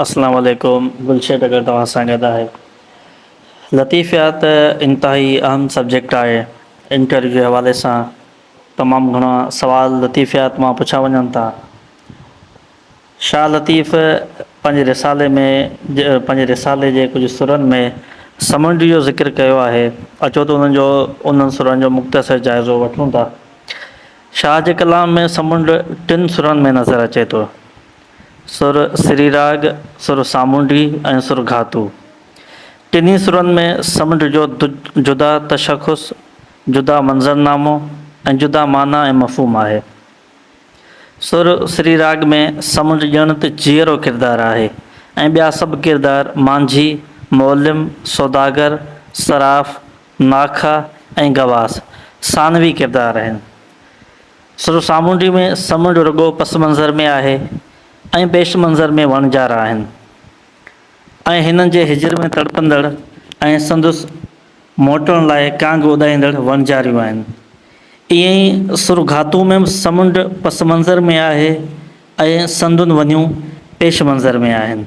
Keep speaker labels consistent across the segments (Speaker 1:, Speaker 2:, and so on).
Speaker 1: اسلام عليڪم گل شيٽ اگر توهان سان گڏ آهي لطيف يار ته انتهائي اهم سبجيڪٽ آهي انٽرويو جي حوالي سان تمام گهڻا سوال لطيف يار توهان پڇا وڃن ٿا شاهه لطيف پنهنجي رسالي ۾ پنهنجي رسالي جي ڪجهه سرن ۾ سمنڊ جو ذڪر ڪيو آهي اچو ته انهن جو انهن سرن جو مختصر جائزو وٺون ٿا شاهه جي ڪلام ۾ سمنڊ ٽن سرن ۾ نظر اچي ٿو سر سري راڳ، سر سامونڊي ۽ سر گهاتو. ٽنهي سرن ۾ سمنڊ جو جدا تشخص، جدا منظرنامو ۽ جدا معنيٰ ۽ مفهوم آهي. سر سري راڳ ۾ سمنڊ ڄڻ ته جيئرو ڪردار آهي ۽ ٻيا سڀ ڪردار مانجهي، معلم، سوداگر، صراف، ناکئا ۽ غواص ثانوي ڪردار آهن. سرو سامونڊي ۾ سمنڊ رڳو پس منظر ۾ آهي ۽ پيش منظر ۾ وڻ جار آهن ۽ هنن جي هجر ۾ تڙپندڙ ۽ سندس موٽڻ لاء ڪانگ اڏائيندڙ وڻجاريون آهن. ائين ئي سرو گهاتو ۾ به سمنڊ پس منظر ۾ آهي ۽ سندن ونيون پيش منظر ۾ آهن.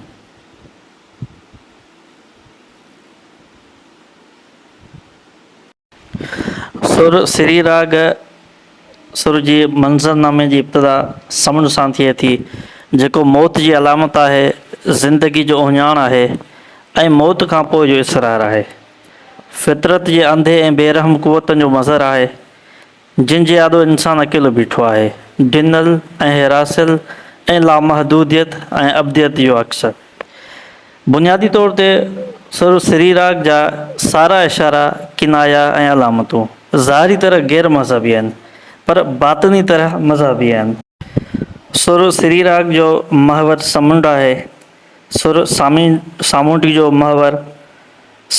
Speaker 1: سر سري راڳ سر جي منظر نامي جي ابتدا سمن سان ٿئي ٿي جيڪو موت جي علامت آهي، زندگي جو اهڃاڻ آهي ۽ موت کان پوء جو اسرار آهي. فطرت جي انڌي ۽ بي رحم قوتن جو مظهر آهي. جن جي آڏو انسان اڪيلو بيٺو آهي. ڊنل ۽ هيراسيل ۽ لامحدوديت ۽ ابديت جو عڪس. بنيادي طور تي سر سريراڪ جا سارا اشارا، ڪنايا ۽ علامتون ظاهري طرح غير مذهبي آهن پر باطني طرح مذهبي آهن. سر سريراڪ جو محور سمنڊ آهي. سر سامي سامونڊ جو محور.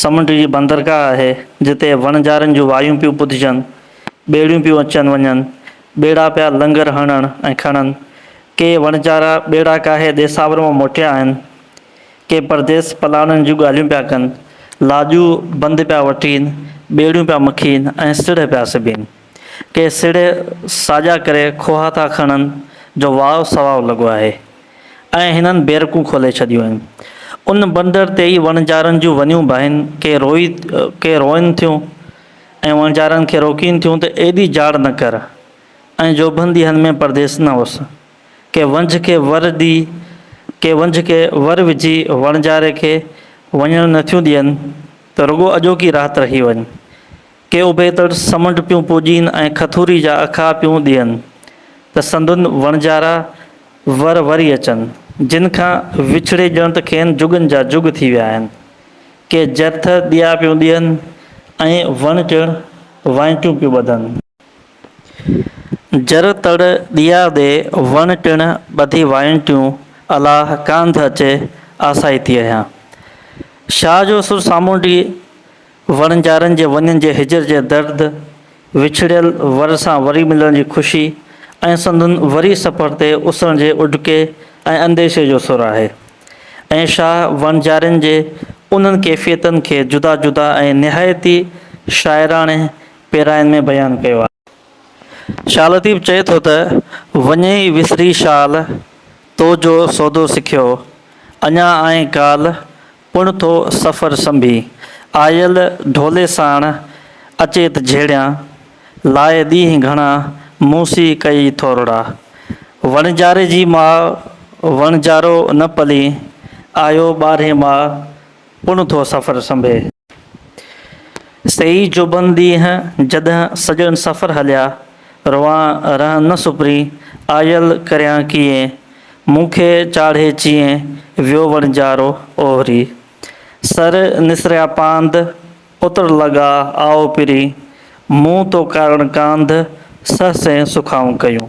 Speaker 1: سمنڊ جي بندرگاهه آهي، جتي وڻجارين جون وايون پيون ٻڌجن، ٻيڙيون پيون اچن وڃن، ٻيڙا پيا لنگر هڻڻ ۽ کڻن. ڪي وڻجارا ٻيڙا ڪاهي ديساور مان موٽيا آهن. ڪي پرديس پلاڻن جون ڳالهيون پيا ڪن، لاڄون بند پيا وٺين، ٻيڙيون پيا مکين ۽ سڙهه پيا سبين. ڪي سڙهي ساڄا ڪري کوها ٿا کڻن جو واء سواء لڳو آهي ۽ هنن بيرڪون کولي ڇڏيون آهن. ان بندر تي ئي وڻجارن جون ونيون باهين، ڪي روئي ڪي روئن ٿيون ۽ وڻجارن کي روڪين ٿيون ته ايڏي جاڙ نه ڪر ۽ جوڀن ديهن ۾ پرديس نه اوس. ڪي ونجهه کي ور ڏي ڪي ونجهه کي ور وجهي وڻجاري کي وڃڻ نه ٿيون ڏين ته رڳو اڄوڪي رات رهي وڃ. ڪي اوڀيتڙ سمنڊ پيون پوڄين ۽ کٿوري جا اکا پيون ڏين ته سندن وڻجارا ور وري اچن، جن کان وڇڙي ڄڻ ته کين جڳن جا جڳ ٿي ويا آهن. ڪي جرٿ ڏيا پيون ڏين ۽ وڻ ٽڻ وائنٽيون پيون ٻڌن. جر تڙ ڏيا ڏي وڻ ٽڻ ٻڌي وائنٽيون الاهه ڪانڌ اچي آسائتي اهيان. شاهه جو سر سامونڊي وڻجارن جي وڃن جي هجر جي درد، وڇڙيل ور سان وري ملڻ جي خوشي ۽ سندن وري سفر تي اسرڻ جي اڏڪي ۽ انديشي جو سر آهي ۽ شاهه وڻجارين جي انهن ڪيفيتن کي جدا جدا ۽ نهايت ئي شاعراڻي پيراين ۾ بيان ڪيو آهي. شاهه لطيف چئي ٿو ته، وڃي ئي وسري شال، تو جو سودو سکيو، اڃا آئين ڪال، پڻ ٿو سفر سنڀي، آيل ڍولي ساڻ، اچيت جهيڙيان، لاء ڏينهن گهڻا، مون سي ڪئي ٿورڙا، وڻجاري جي ماء، وڻجارو نه پلين، آيو ٻارهين ماء، پڻ ٿو سفر سنڀي. سيئي جوڀن ڏينهن جڏهن سڄڻ سفر هليا. روئان رهن نه سپرين، آيل ڪريان ڪيئين. مون کي چاڙهي چيئين، ويو وڻجارو اوهري. سر نسريا پانڌ، اتر لڳا آئو پرين. مون تو ڪارڻ ڪانڌ، سهسين سکائون ڪيون.